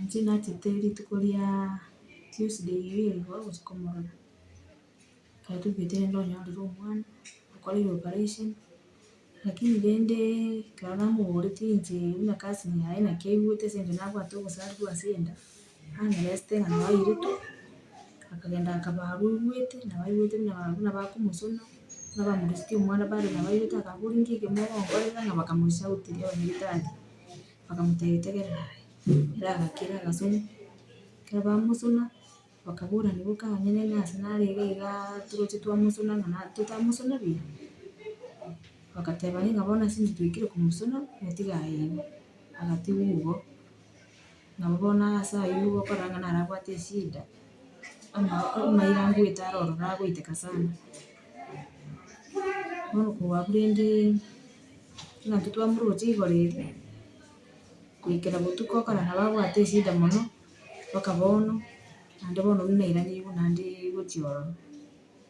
Inche nachete rituko ria Tuesday eye igo botuko mororo, ekero toigwete rende onyorire omwana, okoreire operation, lakini rende ekero namoboretie inche buna cousin yaye naki aigwete ase eng'encho nabwate obosarigwa ase enda. Aresete ng'a nabo airetwe, akagenda akaba aruigwete, nabo aigwete buna aba buna bakomosuna, buna bamorusetie omwana bare nabo aigwete akaboria inki ekio mogonkorera ng'a bakamosauteria abanyagetari, bakamotebia tegerera aye. Ere agakira agasuna, ekero bamosuna, bakaborana boka onye nere ase narenge igaa toroche twamosuna ng'a na totamosuna buya, bagateba ng'a bono ase inche twaikire komosuna, natiga aye ime, agatigwa igo. Nabo bono ase ayio okoranga narabwate eshida, ama- amaira ngoeta aro ororo agoiteka sana. Bono koabu rende naki twamuroche igoro ere, goikera botuko okora nabo abwate eshida mono, mpaka bono, naende bono buna naira nigo naende gochia ororo.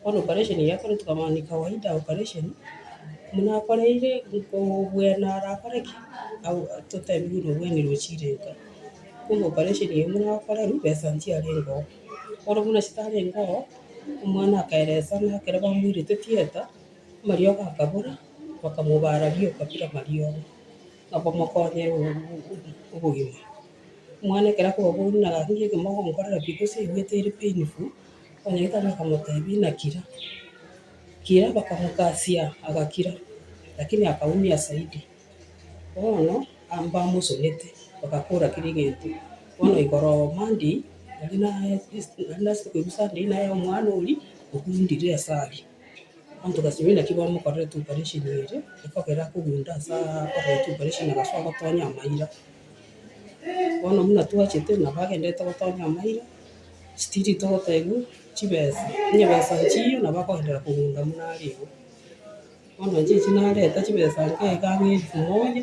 Bono operation eye akoretwe kaba ni kawaida operation, buna akoreire nkobwena arakore ki, au totebie buna obwene rochire nka. Bono operation eye buna akorerwe besa nchiarenge oo. Bono buna chitarenge oo, omwana akaeresana ekero bamoirete theatre, amariogo akabora, bakamobara rioka bire amariogo, na bamokonya obogima. Omwana ekero akoba boigo naga arusie ekero mogonkorera pi gose aigwete ere painful. Oyoito bakamotebia, Nakira. Kira bakamokasia agakira, lakini akaumia zaidi. Bono abamosubete bagakora kera egento, bono ikoroma ndii nari nase koigwa saa ndii naye omwana oria ogundire ase aria. Abanto baria naki bamokorerete operation eria, ekogera akogunda ase akorerete operation agasoa gotonya amaira. Bono buna twachete nabo agenderete gotonya amaira. chitiri togotebwa chibesa, nyebesa nchiyo nabo akoendera kogenda buna are igo. Bono inche echio nareta chibesa inche iga ang'e elfu moja,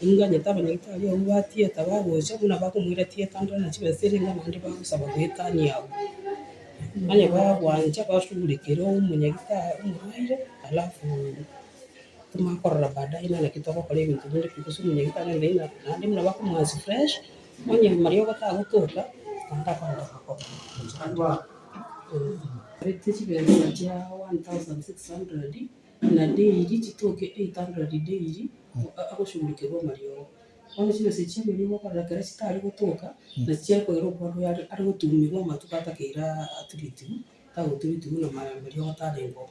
inganyete abanyagitari abwo ba theatre bagocha buna bakomoira theatre ndore na chibesa eria nigo naende bagosaba goetania abwo. Onye bagwancha bashughulikere omonyagitari omoraire alafu timokorora baadaye naki togokora ebinto binde gose omonyagitari naende buna bakomwasi fresh. Onye omoria ogotagotoka, naende akoancha kokoba. Arete chibesa chia 1,600, na daily chitoke 800 daily, agosurekerwa omoria obo. Bono chibesa echi chia omoria obo okorora ekero chitari gotoka, nachi chiare koira okwana oyo are gotugunyigwa amatuko atakeire aturitigwe, tagoturutigwe na omoria ogotarengwa oo.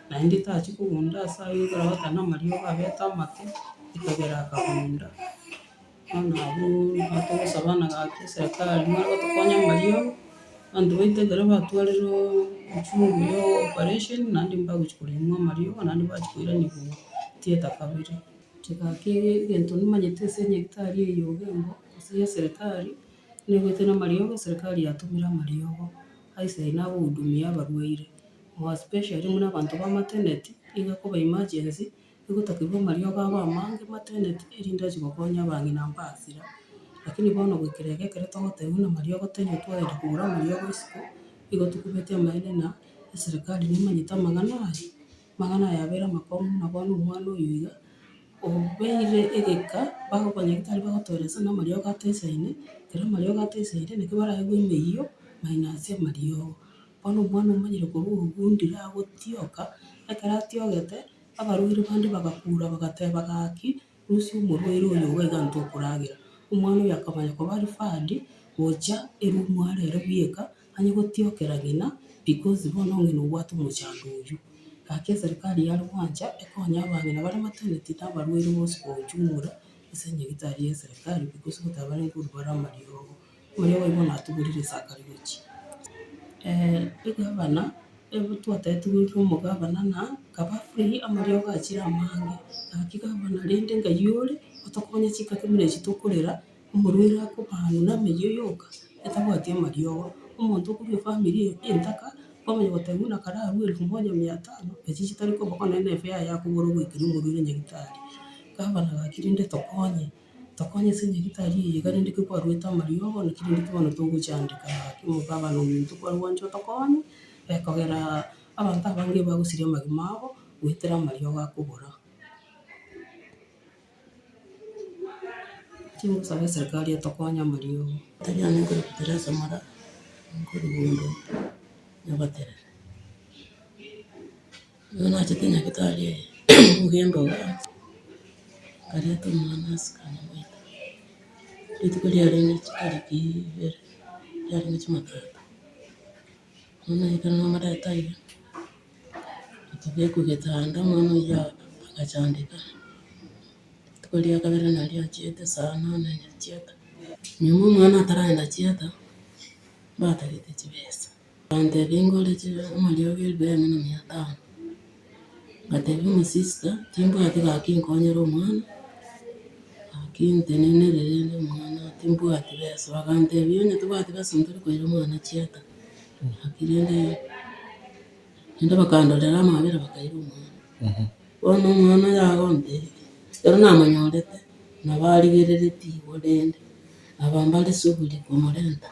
naende tachia kogunda ase ayio ekero agoteeba namariogo abete amate, ekabera akagunda. Bono abwo nigo togosaba na gaki eserekari more gotokonya amariogo, abanto baito ekero batwarire echungu ya operation naende mbagochi koremwa amariogo naende mbachi koiranigwa theatre kabere. Inche gaki egento nimanyete ase enyagitari eyio bwengo ase ya eserekari, nigo ete namariogo eserekari yatomire amariogo ase ayio nagohudumia abarwaire. More especially buna abanto ba maternity, iga koba emergency, egotokigwa amariogo abe amange maternity, erinde achi gokonya abang'ina mbasira. Lakini bono goikera iga ekero togoteba buna amariogo taiyo twagenda kogora amariogo isiko, igo tokobeti amaene na eserekari nemanyete amang'ana aya, amang'ana aya abeire amakong'u buna bono omwana oyo iga, obeire egeka, abanyagitari bagotoeresia buna amariogo ataisaine, ekero amariogo ataisaire, naki baraigwe emeyio, minus amariogo. Bono omwana omonyene korwa orogundire agotioka, ekero atiogete, abarwaire bande bagakuura bagateba, Gaki, rusia omorwaire oyo obo iga intwe okoragera. Omwana oyo akamanya koba aria fadi, gocha erumu are ere bweka, anye gotiokera ng'ina, because bono ng'ina obwate omochando oyio. Gaki eserikari yare gwancha ekonye abang'ina bare maternity na abarwaire bonsi kogochumora ase nyagitari ya eserikari, because gotaba nkorubaramari obo. Oyo boigo natugurire esakari gochia egavana, twataetugurire omogavana na akaba free amariogo achire amange. Gaki gavana rende ngai ore otokonye chingaki buna echi tokorera, omorwaire akoba amo nameyie yoka atabwati amariogo. Omonto okorwa efamiri eye entaka, kwamanya goteba buna kare arue elfu moja mia tano, echi chitari koba bono nefea yaye akogora ogoikera omorwaire nyagetari. Gavana gaki rende tokonye. Tokonya ase enchera etari eye iga rende ekero kwaruete amariogo naki rende ekero bono togochandeka ake omonto abe na omonto kware gwancha otokonye, ekogera abanto abange bagosiria amagima abo goetera amariogo akobora. Timosabe eserikari etokonye amariogo. Tonyare nkore fertilizer mara nkorwa bondo nyagoterera. Bono nachete nyagetari oye bw'embobe, akareta omwana ase kanyabaito, rituko riarenge chitariki ibere, riarenge jumatatu, bono naikire namoreta aiga, akabekwa getanda, omwana oyio agachandeka, rituko ria kabere nario achiete saa nane achieta, nyuma omwana ataragenda chieta, mbatagete chibesa. Nkabateebia, Ingore chibe amariogo eribeeno na mia tano. Nkateebia omosista, Timbwati gaki nkonyere omwana, gaki ntenenerere rende omwana timbwati besa. Bakanteebia, Onye tobwati besa ntari koira omwana chiaata. Gaki rende, rende bakandorera amabera bakaira omwana. Bono omwana oyo agonte, ekero namonyorete, nabo arigereretie igoro rende, aba mbare shughuli komorenta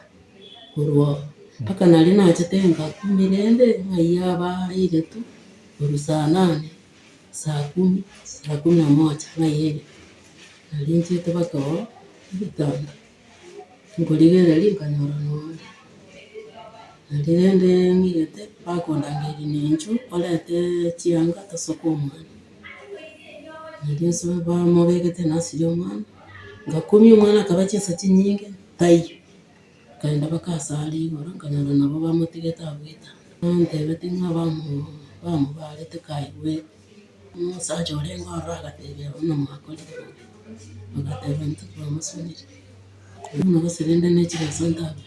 korwa oo. Mpaka naria nachete saa kumi rende, ng'ayia aba airetu, korwa saa nane, saa kumi, saa kumi na moja ng'ayia airetu. Nario nchiete mpaka oo, nabetang'ani. Nkorigereria nkanyora nonya naende rende ng'irete bakondangeria na inchuo orente chianga tosoke omwana. Naende nsoe bamobegete nursery omwana, ngakumia omwana akaba chinsa chinyinge taiyo, nkaenda mpaka ase aria igoro nkanyora nabo bamotigete abwo etanda. Bantebete ng'a bamo- bamobarete kaye bweka. Omosacha orenge ororo agatebia omomakorire, agateba, Intwe twamosuneire, korende gose rende ne chireso ntambe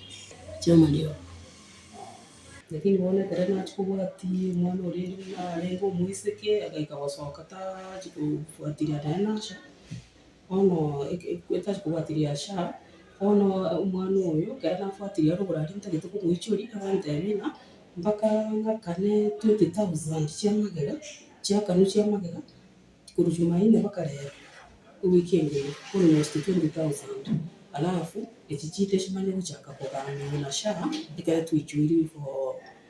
chi'amariogo. Lakini bono ekero nachia kobwatia omwana oria narenge omoiseke, agaika gosoka tachia kobwatiria naye nacha. bono etari kobwati riacha, bono omwana oyo ekero nabwatirie are oborwaria ntagete komoichori, akantebi ng'a mpaka ng'akane twenty thousand chia amagega, chiakanwa chia amagega, korwa jumaine mpaka rero, ewiki engiya, almost twenty thousand, alafu echi chiire chimanye gochaka kogaanwa na SHA, ekero twaichoirwe before.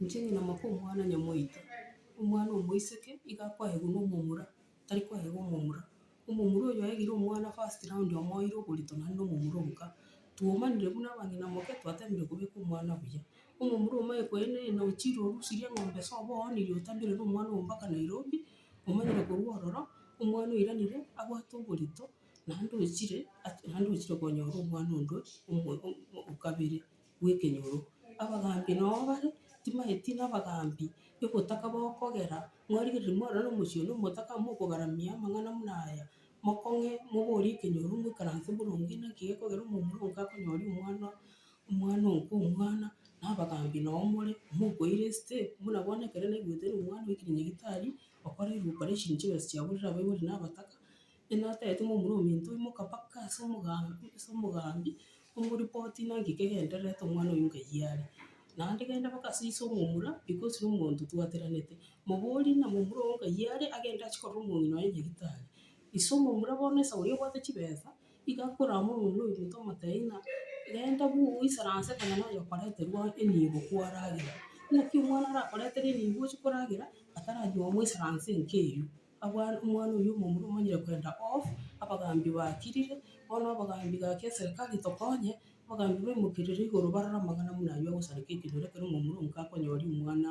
Inche ng'ina moka omwana nyamoito, omwana omoiseke iga akoegwa na omomura, tari koegwa omomura. Omomura oyo oegire omwana first round omoeire oborito naende na omomura oboka. Twaumanire buna abang'ina moke twatebirie kobeka omwana buya. Omomura omanye koenda enda ochire orusirie eng'ombe sobo oonirie otabirere omwana oo mpaka Nairobi, omanyire korwa ororo, omwana oiranire abwate oborito naende ochire naende ochire konyora omwana onde omo- o- o- okabere. bw'ekenyoro. Abagaambi nao bare, timaeti nabagaambi, egotaka bokogera, mwarigereria mwarora nomosio one omotaka, mokogaramia amang'ana buna aya, mokong'e, moborie ekenyoro, moikaranse boronge, naki gekogera omomura onke akonyoria omwana, omwana onke omwana, na abagaambi nao more, mokoira esete, buna bono ekero naigwete ng'a omwana oikire nyagetari, okore operation chibesa chiabu riria abaibori nabataka. Inatete ng'a omorominte oyio moka mpaka ase omogambi, ase omogambi, omoripoti ng'a nki kegendererete omwana oyio nkayi are. Naende genda mpaka ase ise omomura, because na omonto twatweranete, moborie ng'a momura oo nkayi are, agende achie korora omong'ina oye nyagitari. Ise omomura bono esago eyio obwate chibesa, iga akorama omong'ina oyio omonto omotebie ng'a genda bu oisaranse konya nonya okoreterwa enibo kwaragera. Naki omwana arakoretere enibo ochie koragera, ataranyia omoisaranse enka eyio. Agwo omwana oyio omomura omanyire kwenda oo, abagaambi baakirire, bono abagaambi gakia eserekari tokonye, abagaambi baimokerere igoro barore amang'ana buna ayio agosareka ekenyoro ekero omomura omoke akonyoria omwana